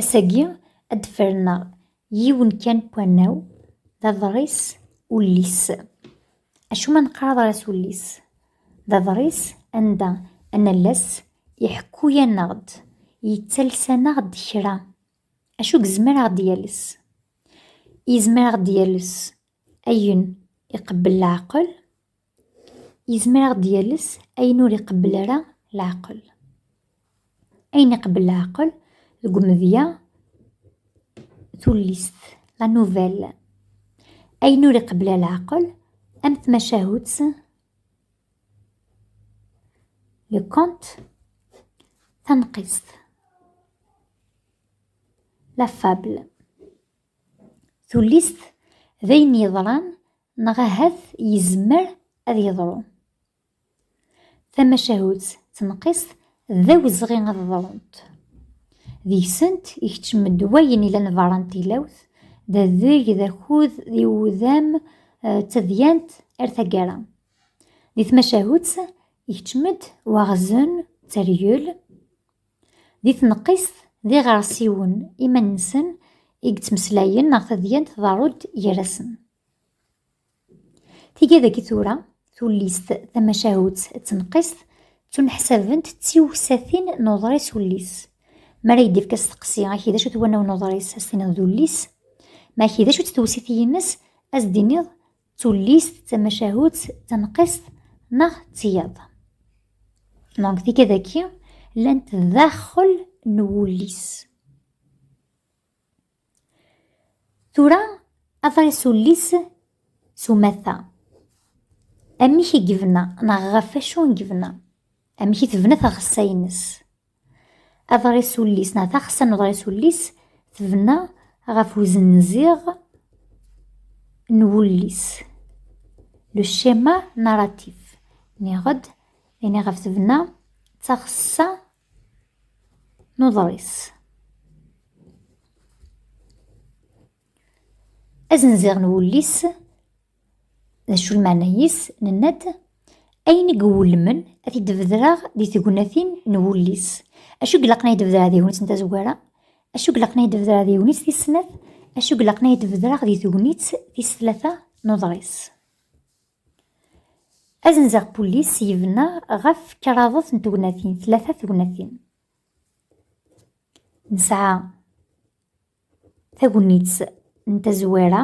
Ass-agi ad d-ferneɣ yiwen kan n wannaw, d aḍris ullis. Acu ma neqqar aḍris ullis? D aḍris anda anallas iḥekku-yaneɣ-d, yettales-aneɣ-d kra. Acu yezmer ad aɣ-d-yales? Yezmer ad aɣ-d-yales ayen iqebbel leɛqel. yezmer ad d-yales ayen ur iqebbel ara leɛqel ayen iqebbel leɛqel deg umedya tullist la nouvelle ayen ur iqebbel ara leɛqel am tmacahut le compte tanqist la fable tullist d ayen yeḍran Neɣ ahat yezmer ad yeḍru. Tamacahut tenqist d awezɣi ad ḍrunt. Deg-sent ikeččem-d wayen ilan berra n tilawt, d adeg, d akud, d iwudam, eh, d tadyant ar taggara. Di tmacahut ikeččem-d waɣzen, d tergel, Di tneqqist, d iɣersiwen iman-nsen i yettmeslayen neɣ tadyant tḍerru-d gar-asen. Tiga dagi tura, tullist tamacahut d tneqqist ttuneḥsabent d tiwsatin n uḍris ullis. Mi ara yi-d-ifk asteqsi, aki d acu-t wanaw n uḍris, ad s-tiniḍ d ullis. Ma aki d acu-tt tewsit-ines, ad s-d-tiniḍ tullist d tamacahut tanqist neɣ d tiyaḍ donc tikadaki llant daxel n wullis tura aḍris ullis s umata amek i yebna neɣ ɣef wacu i yebna amek i tebna tɣessa-ines Aḍris ullis neɣ taxessa n uḍris ullis tebna ɣef uzenziɣ n wullis. Le schéma narratif. Niɣ-d, ini ɣef tebna d taxessa n uḍris. Azenziɣ n wullis, d acu lmeɛna-is, nenna-d ayen i iwulmen ad t-id-bedreɣ di tegnatin n wullis. Acu i ilaqen ad yi-d-bedreɣ di tegnit n tazwara? Acu i ilaqen ad yi-d-bedreɣ di tegnit tis snat? Acu i ilaqen ad yi-d-bedreɣ di tegnit tis tlata n uḍris? Azenziɣ n wullis yebna ɣef kraḍet n tegnatin, tlata tegnatin. Nesɛa Tagnit n tazwara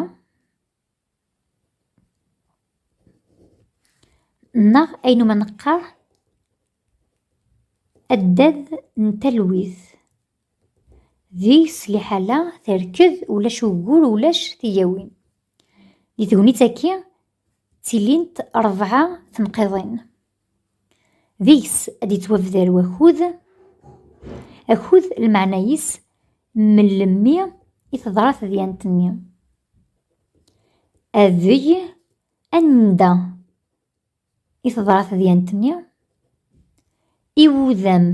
neɣ ayen ma neqqar addad n talwit. Deg-s liḥala terked ulac ugur ulac tigawin. Di tegnit-agi ttilint rebɛa tenqiḍin. deg-s ad yettwabder wakud akud lmeɛna-is mellemmi i teḍra tedyant-nni adeg anda i teḍra tedyant-nni iwudam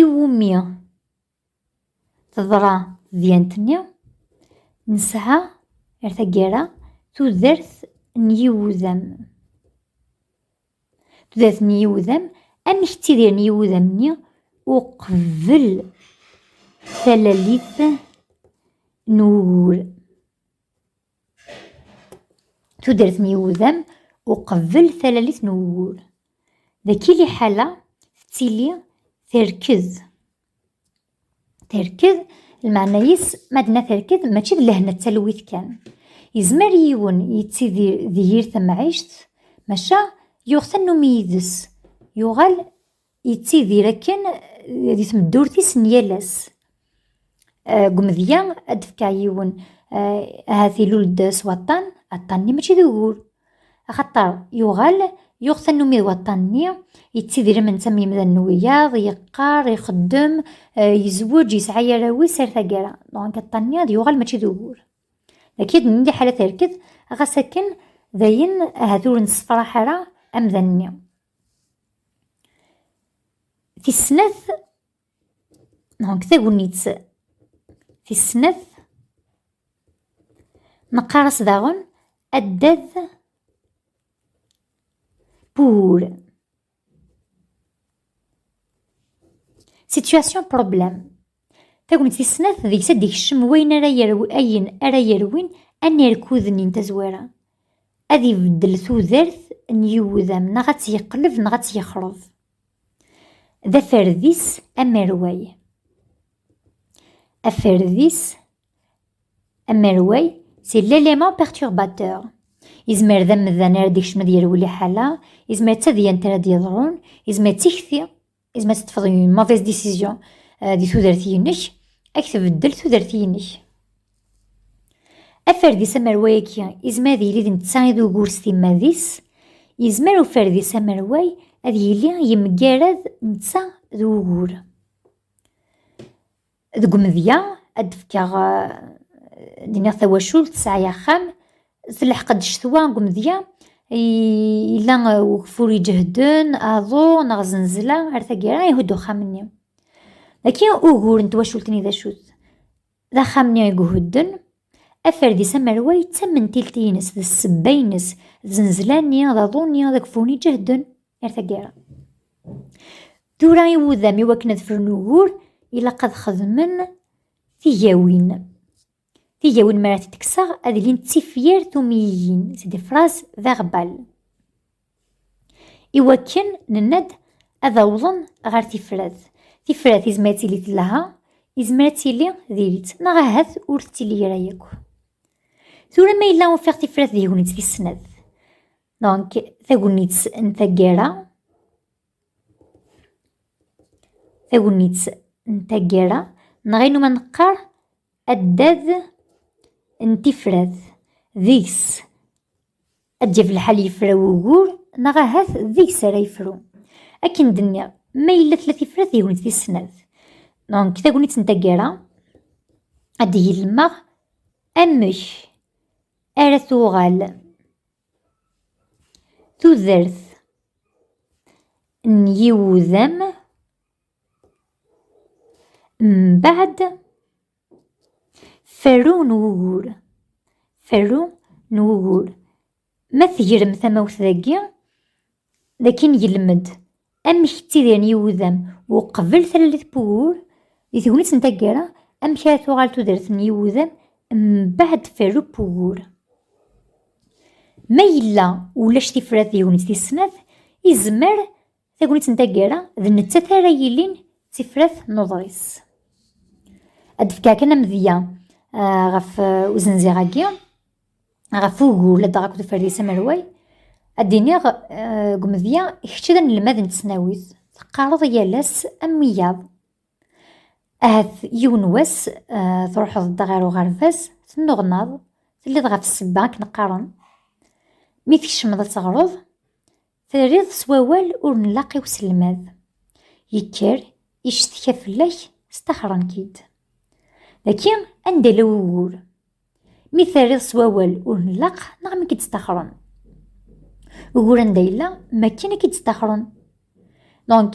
iwumi Teḍra tedyant-nni, nesɛa ar taggara tudert n yiwudam. Tudert n yiwudam, amek ttidiren yiwudam-nni uqbel talalit n wugur? tudert n yiwudam uqbel talalit n ugur. Daki liḥala tettili terked. Terked lmeɛna-is ma d-na terked mačči d lehna d talwit kan. Yezmer yiwen yettidir di yir tamɛict maca yuɣ tannumi yid-s yuɣal yettidir akken di tmeddurt-is n yal ass. Eh, deg umedya ad d-fkeɣ yiwen eh, ahat ilul-d s waṭṭan, aṭṭan-nni mačči d ugur. Axaṭer yuɣal yuɣ tannumi d waṭṭan-nni, yettidir am netta am yimdanen n wiyaḍ, yeqqar, ixeddem, eh, yezweǧ, yesɛa arraw-is ar taggara. Donc aṭṭan-nni ad yuɣal mačči d ugur. Daki ad nini ḥala terked, ɣas akken dayen ahat ur nessefraḥ ara amdan-nni. Tis snat, donc tagnit tis snat, nqaras daɣen addad pour situation problème Tagmat tis snat, deg-s ad d-ikcem wayen ara yerwi, ayen ara yerwin anirkud-nni n tazwara. Ad ibeddel tudert n yiwudam, neɣ ad tt-yeqleb neɣ ad tt-yexreb. D aferdis amerway. Aferdis amerway, c'est l'élément perturbateur. Izmer d amdan ara d-ikcem ad yerwi liḥala, izmer d tadyant ara d-yeḍrun, izmer d tikti Is ma teṭṭfeḍ une mauvaise décision euh, di tudert-inek, ad k-tbeddel tudert-inek. Aferdis amerway-agi izmer ad yili d netta i d ugur s timmad-is, yezmer uferdis amerway ad yili yemgarad netta d ugur. Deg umedya, ad d-fkeɣ d-iniɣ tawacult tesɛa axxam, telḥeq-d ccetwa deg umedya, yella ugeffur iǧehden, aḍu neɣ zenzela ar taggara ihudd uxxam-nni. Dagi ugur n twacult-nni d acu-t? D axxam-nni i ihudden, Aferdis amerway d tamentilt-ines, d ssebba-ines, d zenzla-nni, d aḍu-nni, d agfuni ǧehden ar taggara. Tura i wudam i wakken ad fren ugur, ilaq ad xedmen tigawin. Tigawin mi ara t-id-kkseɣ ad ilint d tifyar tumyiyin, c'est des phrases verbales. i wakken nenna-d ad awḍen ɣer tifrat. Tifrat izmer ad tili telha, izmer ad tili diri-tt, neɣ ahat ur tettili ara yakk. Tura ma yella ufiɣ tifrat d tegnit tis snat, donc tagnit n taggara, tagnit n taggara, neɣ ayen umi neqqar addad n tifrat deg-s Ad d-yaf lḥal yefra wugur, neɣ ahat deg-s ara yefru. Akken d-nniɣ, ma yella tella tifrat d tegnit tis snat. Donc, tagnit n taggara, ad d-igi lemmeɣ amek ara tuɣal tudert n yiwudam mbaɛd Ferru n wugur. Ferru n wugur. Ma tegrem tamawt dagi, dagi ngelmed amek ttidiren yiwudam uqbel talalit n wugur, di tegnit n taggara, amek ara tuɣal tudert n yiwudam mbeɛd ferru n wugur. Ma yella ulac tifrat di tegnit tis snat, izmer Tagnit n taggara d nettat ara yilin d tifrat n uḍris. Ad d-fkeɣ kan amedya ah, ɣef ah, uzenziɣ-agi, ɣef ugur la d-aɣ akked uferdis amerway, ad d-iniɣ ah, deg umedya kečč d anelmad n tesnawit, teqqareḍ yal ass am wiyaḍ. Ahat yiwen wass ah, truḥeḍ-d ɣer uɣerbaz, tennuɣnaḍ, telliḍ ɣef ssebba akken qqaren. Mi tkecmeḍ ad teɣreḍ, Terriḍ s wawal ur nlaq i uselmad. Yekker, icetka fell-ak, staxren-k-id. Daki anda la wugur. Mi terriḍ s wawal ur nlaq neɣ mi k-id-staxren. Ugur anda yella, makken i k-id-staxren. Donc,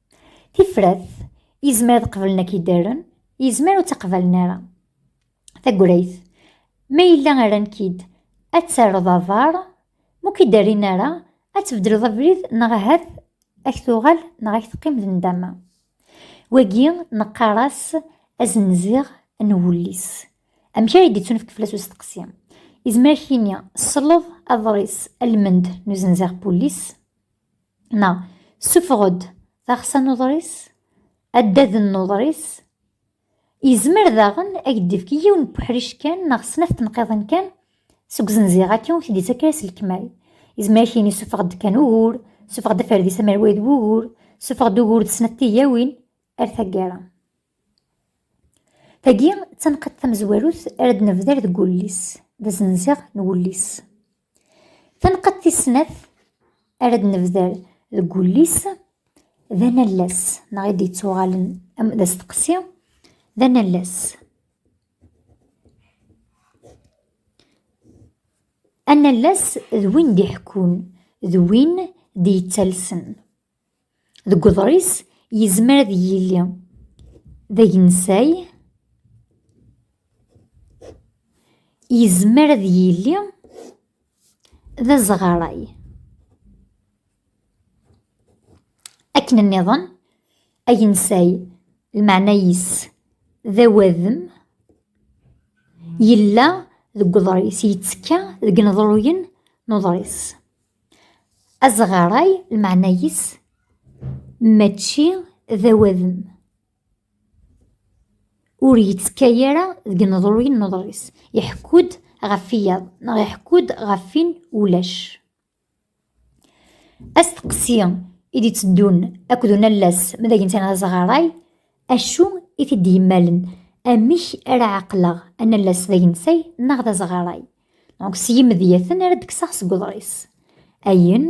Tifrat, yezmer ad qeblen ak idaren, yezmer ur tt-aqbalen ara. Tagrayt, ma yella rran-k-id ad terreḍ aḍar, ma ur k-id-rrin ara, ad tbeddleḍ abrid neɣ ahat ad k-tuɣal neɣ ad k-teqqim d nndama. Wagi neqqar-as azenziɣ n wullis. Amek ara yi-d-ittunefk fell-as usteqsi? Yezmer ad k-yini sleḍ aḍris Almend n uzenziɣ n wullis. neɣ sufeɣ-d taɣsa n uḍris, addad n uḍris, yezmer daɣen ad k-d-ifk yiwen n uḥric kan neɣ snat tenqiḍin kan seg uzenziɣ-agi ur k-d-ittak ara s lekmal. Yezmer ad k-yini sufeɣ-d kan ugur, sufeɣ-d aferdis amerway d wugur, sufeɣ-d ugur d snat tigawin, ar taggara. Tagi d tanqiḍt tamezwarut ara d-nebder deg wullis, d azenziɣ n wullis. Tanqadt tis snat ara d-nebder deg wullis d anallas neɣ i d-yettuɣalen am d asteqsi d anallas. Anallas d win d-iḥekkun d win d-yettalsen. Deg uḍris, yezmer ad yili d agensay, yezmer ad yili d azɣaray. Akken nniḍen, agensay lmeɛna-is d awadem yella deg uḍris, yettekka deg ineḍruyen n uḍris. Azeɣray lmeɛna-is mačči d awadem. Ur yettekka ara deg ineḍruyen n uḍris. Iḥekku-d ɣef iyaḍ neɣ iḥekku-d ɣef win ulac. Asteqsi i d-itteddun akked unallas mi d agenten azeɣray, Acu i t-id-yemmalen? Amek ara ɛeqleɣ anallas d agensay neɣ d azeɣray? Donc s yimedyaten ara d-kkseɣ seg uḍris. Ayen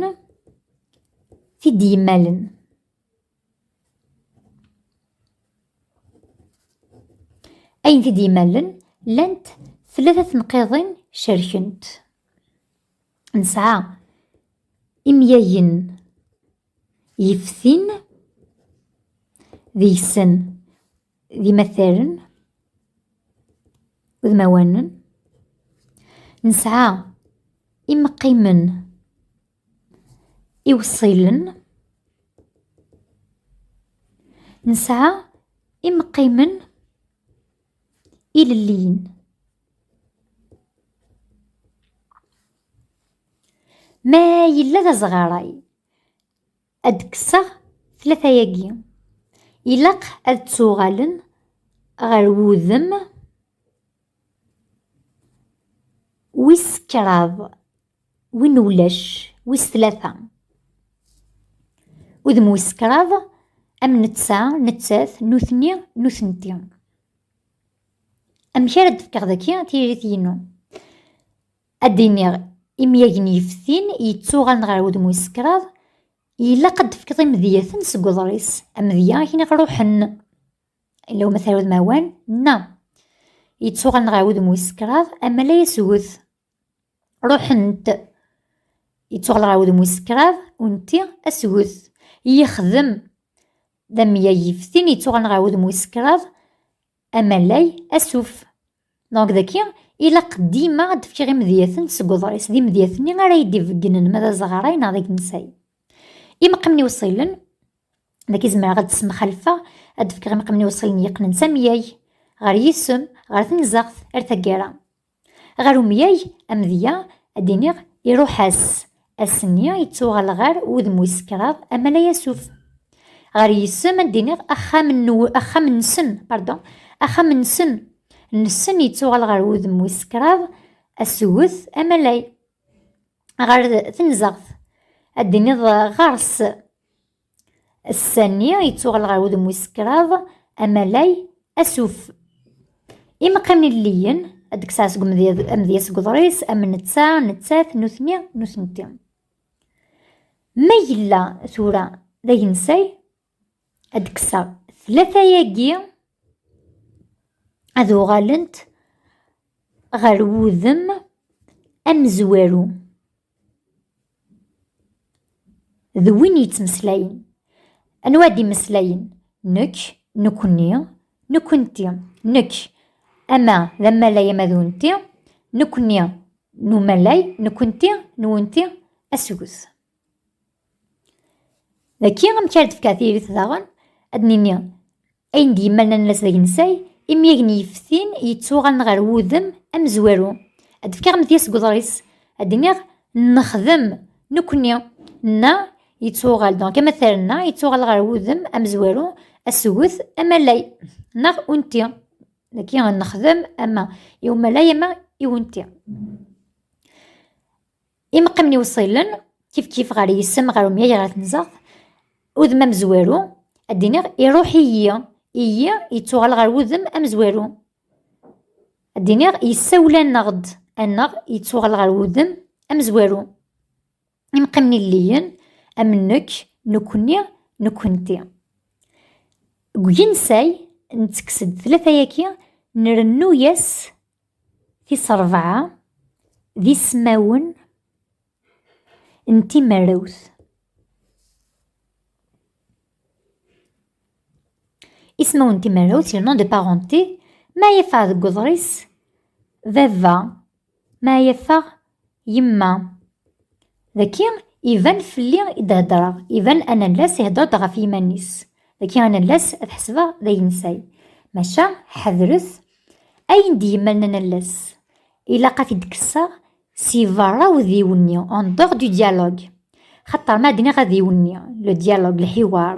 t-id-yemmalen. Ayen t-id-yemmalen llant tlata tenqiḍin cerkent. Nesɛa imyagen yeftin deg-sen d imataren udmawanen nesɛa imeqqimen iwṣilen nesɛa imeqqimen ilelliyen Ma yella d azɣaray, ad d-kkseɣ tlata-agi. Ilaq ad ttuɣalen ɣer wudem wis kraḍ, win ulac, wis tlata. Udem wis kraḍ, am netta, nettat, nutni, nutenti. Amek ara d-fkeɣ daki tiririt-inu? Ad d-iniɣ, imyagen yeftin yettuɣalen ɣer wudem wis kraḍ, ilaq ad d-tefkeḍ imedyaten seg uḍris, amedya akken i ɣ-ruḥen, illa umatar udmawan, na, yettuɣalen ɣer wudem wis kraḍ, amala yesget, ruḥent, yettuɣal ɣer wudem wis kraḍ, unti, asget, yexdem, d amyag yeftin yettuɣalen ɣer wudem wis kraḍ, Amalay asuf. Donc daki ilaq dima ad d-fkiɣ imedyaten seg uḍris d imedyaten-nni ara yi-d-ibeggnen ma d azeɣray neɣ d agensay. Imeqmen iwṣilen, daki zemreɣ ad d-ssemxalfeɣ, ad d-fkeɣ imeqmen iwṣilen yeqqnen s amyag, ɣer yisem, ɣer tenzeɣt, ar taggara. Ɣer umyag amedya ad d-iniɣ iruḥ-as, ass-nni yettuɣal ɣer wudem wis kraḍ Amalay Yasuf. Ɣer yisem ad d-iniɣ axxam-nsen, pardon, axxam-nsen, nsen yettuɣal ɣer wudem wis kraḍ Assuget Amalay. Ɣer tenzeɣt ad d-iniḍ ɣers, Ass-a-nni yettuɣal ɣer wudem wis kraḍ, amalay, asuf. Imeqqimen ilelliyen, ad d-kkseɣ seg amedya seg uḍris, am netta, nettat, nutni, nutenti. Ma yella tura d agensay, ad d-kkseɣ tlata-agi ad uɣalent ɣer wudem amezwaru. d win yettmeslayen anwa ad imeslayen nekk nekkni nekkenti nekk ama d amalay ama d unti nekkni n umalay nekkenti n unti asget Dagi, amek ara d-fkeɣ tiririt daɣen, ad d-nini ayen d-yemmalnan lasda d agensay, imi agen yeftin yettuɣalen ɣer wudem amezwaru. Ad d-fkeɣ amedya seg uḍris, ad d-iniɣ nexdem, nekkni, na yettuɣal, donc amatar na yettuɣal ɣer wudem amezwaru, asget, amalay, neɣ unti. Dagi, nexdem ama i umalay ama i unti. Imeqqimen iwṣilen, kifkif ɣer yisem, ɣer umyag, ɣer tenzeɣt, udem amezwaru, ad d-iniɣ iruḥ-iyi, iyi yettuɣal ɣer wudem amezwaru. Ad d-iniɣ yessawel-aneɣ-d, aneɣ yettuɣal ɣer wudem amezwaru. Imeqqimen illiyen, am nekk, nekkni, nekkenti. Deg uginsay, nettekkes-d tlata-yaki, nrennu-yas Tis rebɛa d ismawen n timarewt. Ismawen n timarewt, le nom de parenté, ma yeffeɣ deg uḍris, baba, ma yeffeɣ Yemma, daki iban fell-i i d-heddreɣ, iban anallas ihedder-d ɣef yiman-is. Daki anallas ad ḥesbeɣ d agensay. Maca ḥedret ayen d-yemmalen anallas. Ilaq ad t-id-kesseɣ si berra udiwenni, en dehors du dialogue. Xaṭer ma d-nniɣ adiwenni, le dialogue, lḥiwar.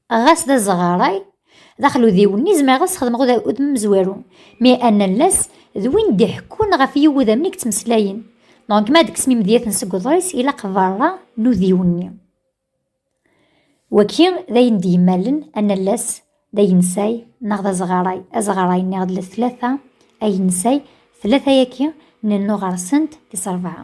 ɣas d azeɣaray d axludiw-nni zemreɣ ad sxedmeɣ udem amezwaru mi anallas d win d-iḥekkun ɣef yiwudamen i yettmeslayen donc ma d-kksen imedyaten seg uḍris ilaq berra n udiw-nni waki d ayen d-yemmalen anallas d agensay neɣ d azeɣaray azeɣaray nniɣ d tlata agensay tlata-agi nennu ɣer-sent tis rebɛa